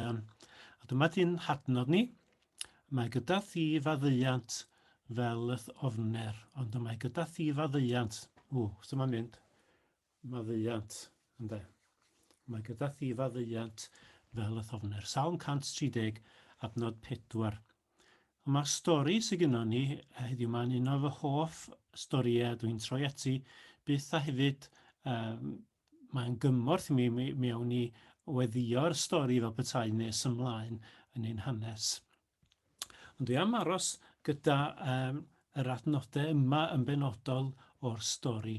Sion. A dyma dyn hadnod ni. Mae gyda thi faddeuant fel yth ofner, ond y mae gyda thi faddeuant. O, so mae'n mynd. Maddeuant, ynddo. Mae gyda thi faddeuant fel yth ofner. Salm 130, adnod 4. Ond mae'r stori sy'n gynnwn ni eh, heddiw mae'n un o fy hoff storïau dwi'n troi ati byth a hefyd um, Mae'n gymorth i mi, mi, mi awn ni weddïo'r stori fel petai nes ymlaen yn ein hanes. Ond dwi am aros gyda um, yr adnodau yma yn benodol o'r stori.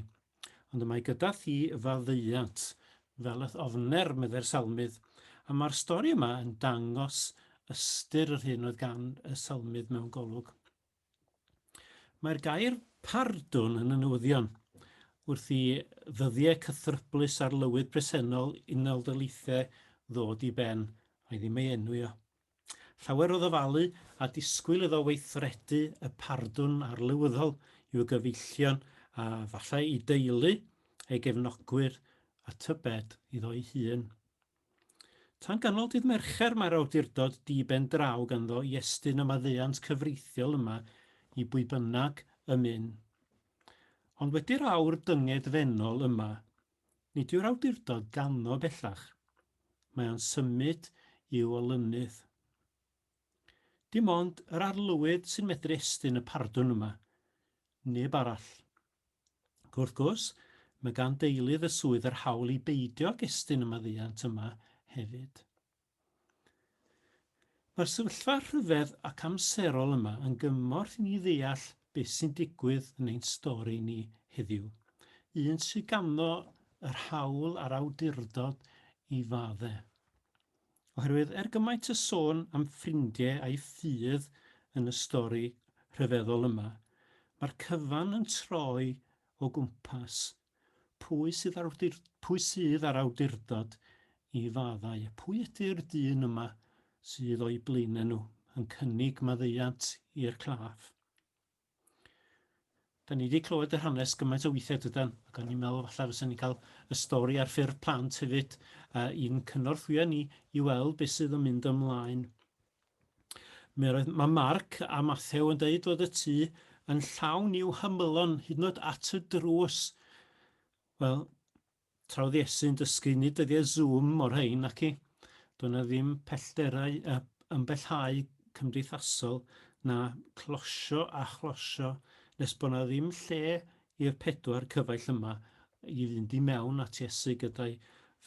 Ond y mae gyda thi faddeuant, fel y ofner, meddai'r salmydd, a mae'r stori yma yn dangos ystyr yr hyn oedd gan y salmydd mewn golwg. Mae'r gair pardwn yn y newyddion wrth i ddyddiau cythryblus arlywydd presennol Unol Daleithiau ddod i ben, ai ddim ei enwi o. Llawer o ddyfalu a disgwyl iddo weithredu y pardwn arlywyddol i'w gyfeillion a falle i deulu, ei gefnogwyr a tybed iddo'i hun. Tan ganol dydd Mercher mae'r awdurdod di-ben draw ganddo i estyn y maddeuant cyfreithiol yma i bwy bynnag y myn. Ond wedi'r awr dynged fennol yma, nid yw'r awdurdod ganddo bellach. Mae o'n symud i'w olynydd. Dim ond yr Arlywydd sy'n medru estyn y pardwn yma. Neb arall. Ac wrth gwrs, mae gan deilydd y swydd yr hawl i beidio ag estyn y maddeuant yma hefyd. Mae'r sefyllfa rhyfedd ac amserol yma yn gymorth i ni ddeall beth sy'n digwydd yn ein stori ni heddiw, un sydd ganddo yr hawl a'r awdurdod i faddau. Oherwydd er gymaint o sôn am ffrindie a'i ffydd yn y stori rhyfeddol yma, mae'r cyfan yn troi o gwmpas pwy sydd ar awdur- pwy sydd ar awdurdod i faddau a phwy ydy'r dyn yma sydd o'u blaenau nhw yn cynnig maddeuant i'r claf. Da ni wedi clywed yr hanes gymaint o weithiau dydan, ac o'n i'n meddwl falle fysa ni'n cael y stori ar ffurf plant hefyd uh, i'n cynorthwyo ni i weld beth sydd yn mynd ymlaen. Mi roedd, mae Marc a Mathew yn dweud fod y tŷ yn llawn i'w hymylon hyd yn oed at y drws. Wel, Tra oedd Iesu'n dysgu, nid dyddiau Zoom o'r rhein, naci? Doedd 'na ddim pellderau yy ymbellhau cymdeithasol na closio a chlosio nes bod 'na ddim lle i'r pedwar cyfaill yma i fynd i mewn at Iesu gyda'i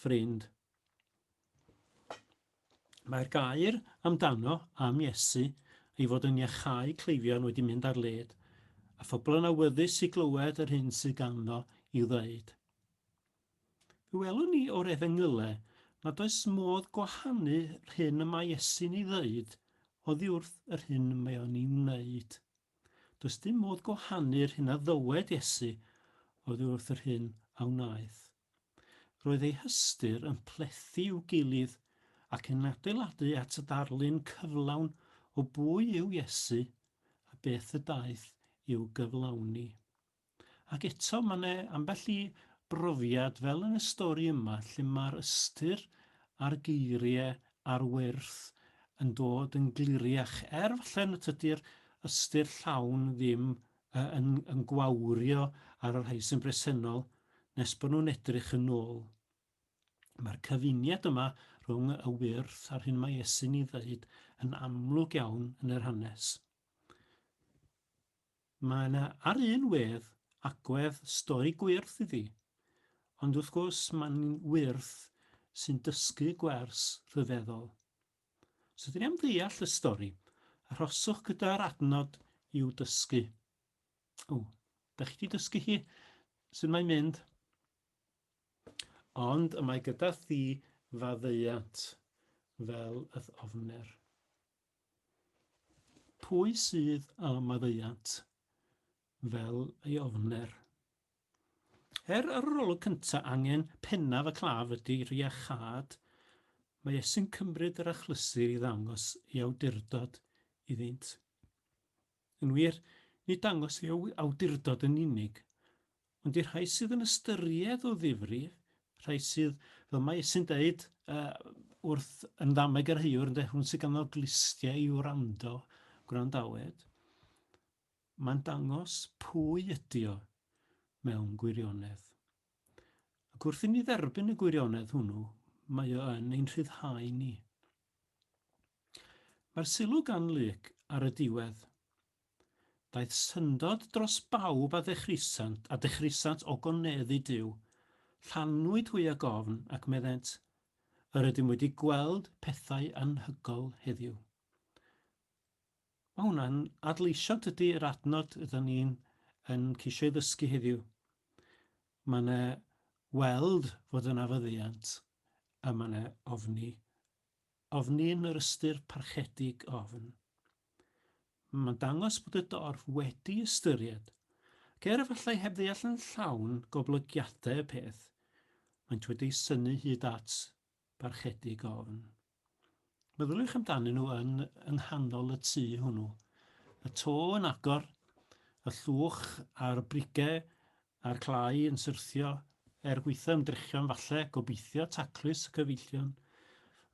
ffrind. Mae'r gair amdano am Iesu ei fod yn iachau cleifion wedi mynd ar led, a phobl yn awyddus i glywed yr hyn sydd ganddo i'w ddweud. Fe welwn ni o'r Efengylau nad oes modd gwahanu rhyn y mae Iesu'n ei ddeud oddi wrth yr hyn y mae o'n ei wneud. Does dim modd gwahanu yr hyn a ddywed Iesu oddi wrth yr hyn a wnaeth. Roedd eu hystyr yn plethu i'w gilydd ac yn adeiladu at y darlun cyflawn o bwy yw Iesu a beth y daeth i'w gyflawni. Ac eto, mae yna ambell i brofiad, fel yn y stori yma, lle mae'r ystyr a'r geiriau ar wyrth yn dod yn gliriach, er falle nad ydy'r ystyr llawn ddim yy yn yn gwawrio ar y rhai sy'n bresennol nes bod nhw'n edrych yn ôl. Mae'r cyfuniad yma rhwng y wyrth a'r hyn mae Iesu'n ei ddeud yn amlwg iawn yn yr hanes. Mae yna ar un wedd agwedd stori gwyrth iddi, ond wrth gwrs mae'n wyrth sy'n dysgu gwers rhyfeddol. Os ydyn ni am ddeall y stori, arhoswch gyda'r adnod i'w dysgu. O, da chi wedi dysgu hi? Sut mae'n mynd? Ond y mae gyda thi faddeuant fel y ofner. Pwy sydd â maddeuant fel ei ofner? Er yr arolwg cyntaf angen pennaf y claf ydy rhiachâd, mae e sy'n cymryd yr achlysur i ddangos ei awdurdod iddynt. Yn wir, nid dangos ei awdurdod yn unig, ond i'r rhai sydd yn ystyried o ddifri, rhai sydd, fel mae Iesu'n dweud uh, wrth yn ddameg yr heiwr, ynde, hwn sydd ganddo glustiau i wrando, gwrandawed. Mae'n dangos pwy ydy o mewn gwirionedd. Ac wrth i ni dderbyn y gwirionedd hwnnw, mae o yn ein rhyddhau ni. Mae'r sylw gan Luc ar y diwedd, Daeth syndod dros bawb a ddechrisant, a dechrisant ogoneddu Duw. Llanwyd hwy ag ofn, ac meddent, Yr ydym wedi gweld pethau anhygoel heddiw. Mae hwnna'n adleisio tydi yr adnod ydan ni'n yn ceisio ei ddysgu heddiw. Mae yna weld fod yna fyddiant a mae yna ofni. Ofni yn yr ystyr parchedig ofn. Mae'n dangos bod y dorf wedi ystyried, ac er efallai heb ddeall yn llawn goblygiadau y peth, maent wedi synnu hyd at barchedig ofn. Meddyliwch amdanyn nhw yn yng nghanol y tŷ hwnnw. Y to yn agor, y llwch a'r brigau a'r clai yn syrthio, er gweithio ymdrechion falle, gobeithio taclus y cyfeillion,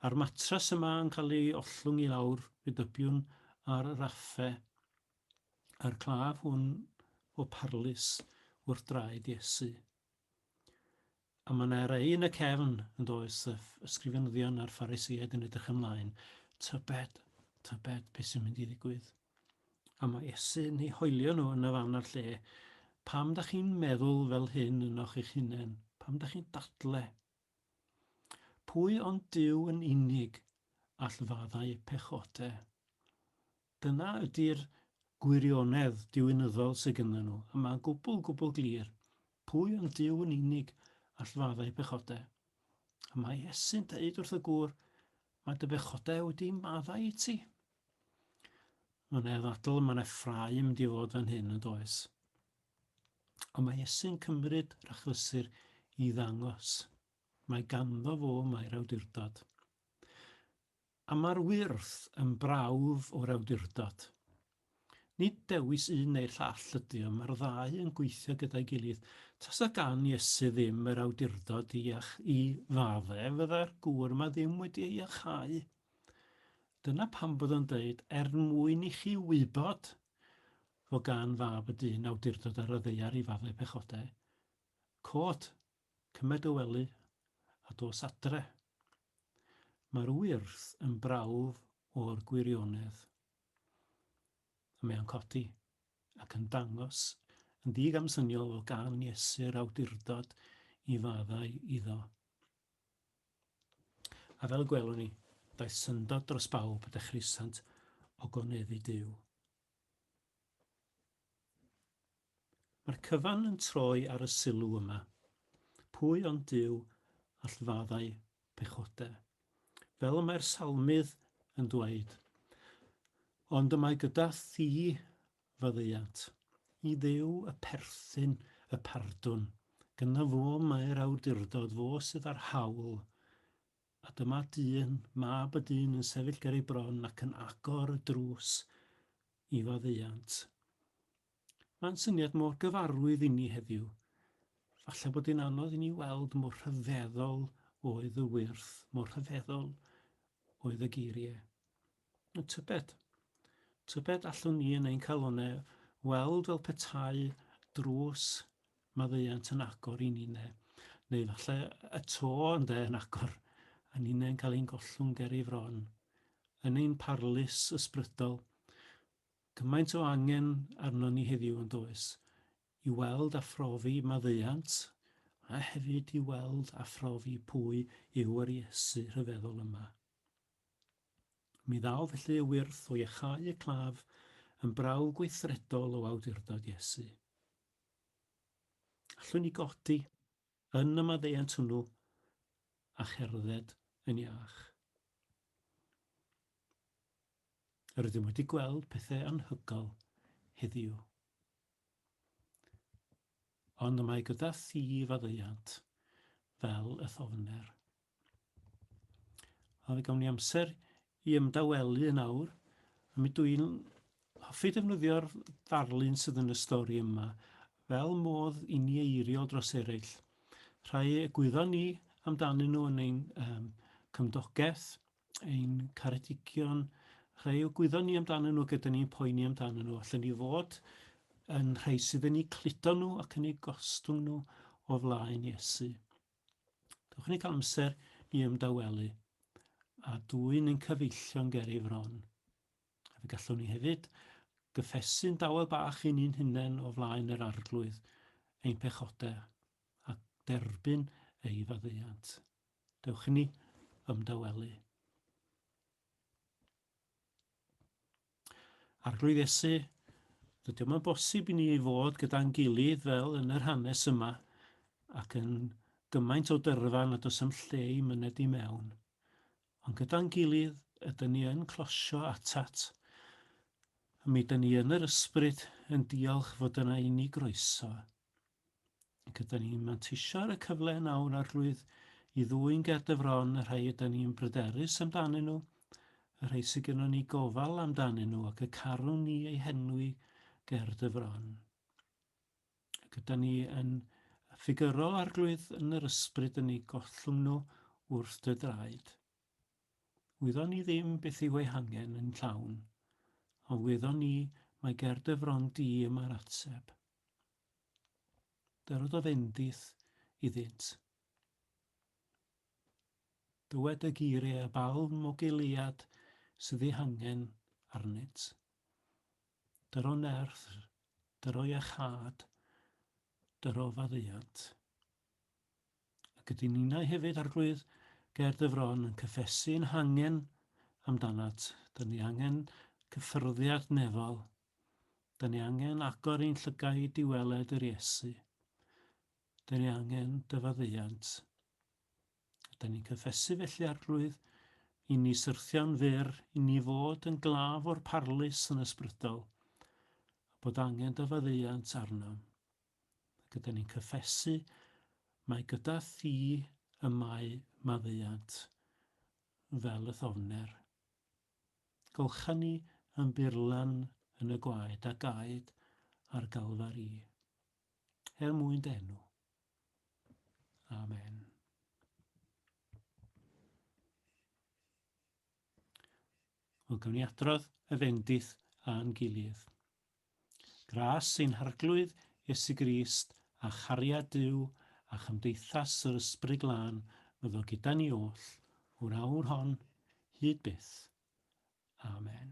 a'r matras yma yn cael ei ollwng i lawr, fe dybiwn, ar y raffe, a'r claf hwn o parlys wrth draed Iesu. A mae yna rei yn y cefn, yn does, y ysgrifenyddion a'r Phariseaid yn edrych ymlaen. Tybed, tybed beth sy'n mynd i ddigwydd? A mae Iesu'n ei hoelio nhw yn y fan a'r lle. Pam da chi'n meddwl fel hyn ynoch eich hunain? Pam da chi'n dadle? Pwy ond Dyw yn unig all faddau pechode? Dyna ydy'r gwirionedd diwinyddol sy gynddyn nhw, a mae'n gwbl, gwbl glir, pwy ond Duw yn unig all fadda eu pechodau. A mae Iesu'n deud wrth y gŵr, Mae dy bechodau wedi maddau i ti. Mae'n ei ddadl y mae yna ffrau yn mynd i fod fan hyn, yn does? Ond mae Iesu'n cymryd yr achlysur i ddangos. Mae ganddo fo mae'r awdurdod. A mae'r wyrth yn brawf o'r awdurdod. Nid dewis un neu'r llall ydy o, mae'r ddau yn gweithio gyda'i gilydd. Tasa gan Iesu ddim yr awdurdod i iach i fadde, fydda'r gŵr yma ddim wedi ei iachau. Dyna pam bod o'n dweud, er mwyn i chi wybod fod gan fab y dyn awdurdod ar y ddaear i fadde pechodau. Quote, Cymer dy wely a dos adre. Mae'r wyrth yn brawf o'r gwirionedd. A mae o'n codi ac yn dangos yn ddigamsyniol fel gan Iesu'r awdurdod i faddau iddo. A fel y gwelwn ni, daeth syndod dros bawb y dechreusant ogoneddu Duw. Mae'r cyfan yn troi ar y sylw yma, Pwy ond Duw all faddau pechodau? Fel y mae'r salmydd yn dweud, Ond y mae gyda thi faddeuant. I Dduw y perthyn y pardwn, gyda fo mae'r awdurdod, fo sydd â'r hawl A dyma dyn, mab y dyn yn sefyll ger ei bron ac yn agor y drws i faddeuant. Mae'n syniad mor gyfarwydd inni heddiw. Falle bod hi'n anodd i ni weld mor rhyfeddol oedd y wyrth, mor rhyfeddol oedd y geiriau. y tybed. Tybed allwn ni yn ein calonau weld fel petai drws maddeuant yn agor i ni ne, neu falle y to ynde yn agor a ninnau'n cael ein gollwng ger ei fron. Yn ein parlys ysbrydol, gymaint o angen arno ni heddiw yn does, i weld a phrofi maddeuant, a hefyd i weld a phrofi pwy yw yr Iesu rhyfeddol yma. Mi ddaw felly y wyrth o iachau y claf yn brawf gweithredol o awdurdod Iesu. Allwn ni godi yn y maddeuant hwnnw a cherdded yn iach. Yr ydym wedi gweld pethau anhygol heddiw. Ond y mae gyda thi faddeuant fel y thofner. A fe gawn ni amser i ymdawelu yn awr, a mi dw i'n hoffi defnyddio'r ddarlun sydd yn y stori yma fel modd i ni eiriol dros eraill. Rhai egwyddon ni amdanyn nhw yn ein um, cymdogaeth, ein caredigion, rhai egwyddon ni amdanyn nhw gyda ni'n poeni amdanyn nhw. Allen ni fod yn rhai sydd yn eu cludo nhw ac yn eu gostwng nhw o flaen Iesu. Dewch ni cael amser i ymdawelu a dwyn ein cyfeillion ger ei fron. A fe gallwn ni hefyd gyffesu'n dawel bach i ni'n hunain o flaen yr arglwydd ein pechodau a derbyn ei faddeuant. Dewch i ni ymdawelu. Arglwydd Iesu, dydy o'm yn bosib i ni ei fod gyda'n gilydd fel yn yr hanes yma, ac yn gymaint o dyrfa nad oes am lle i myned i mewn. Ond gyda'n gilydd, ydyn ni yn closio atat, a mi ydyn ni yn yr ysbryd yn diolch fod yna i ni groeso Ac ydyn ni'n manteisio ar y cyfle nawr arlwydd i ddwyn ger dy fron y rhai ydyn ni'n bryderus amdanyn nhw, y rhai sydd gennym ni gofal amdanyn nhw ac y carwn ni eu henwi ger dy fron. Ac ydyn ni yn ffigyro arglwydd yn yr ysbryd yn ei gollwng nhw wrth dy draed. Wyddon ni ddim beth yw ei hangen yn llawn, a wyddon ni mae ger dy fron di y mae'r ateb. Dyrododd Endith iddynt. Dywed y geiriau a balm o geuliad sydd ei hangen arnynt. Dyro nerth, dyro iachâd, dyro faddeuant. Ac ydy ninnau hefyd, Arglwydd, ger dy fron yn cyffesu yn hangen amdanat. Dyn ni angen cyffyrddiad nefol 'Da ni angen agor ein llygaid i weled yr Iesu. Da ni angen dy faddeuant. A da ni'n cyffesu felly arglwydd i ni syrthio'n fyr, i ni fod yn glaf o'r parlus yn ysbrydol, a bod angen dy faddeuant arnom. Ac ydy ni'n cyffesu mae gyda thi y mae maddeuant fel y thofner. Gall hynny am bur lan yn y gwaed a gaed ar Galfari, er mwyn d'enw. Amen. Wel, gawn ni adrodd y fendith a'n gilydd. Gras ein Harglwydd Iesu Grist a chariad Duw a chymdeithas yr Ysbryd Glân fyddo gyda ni oll o'r awr hon hyd byth. Amen.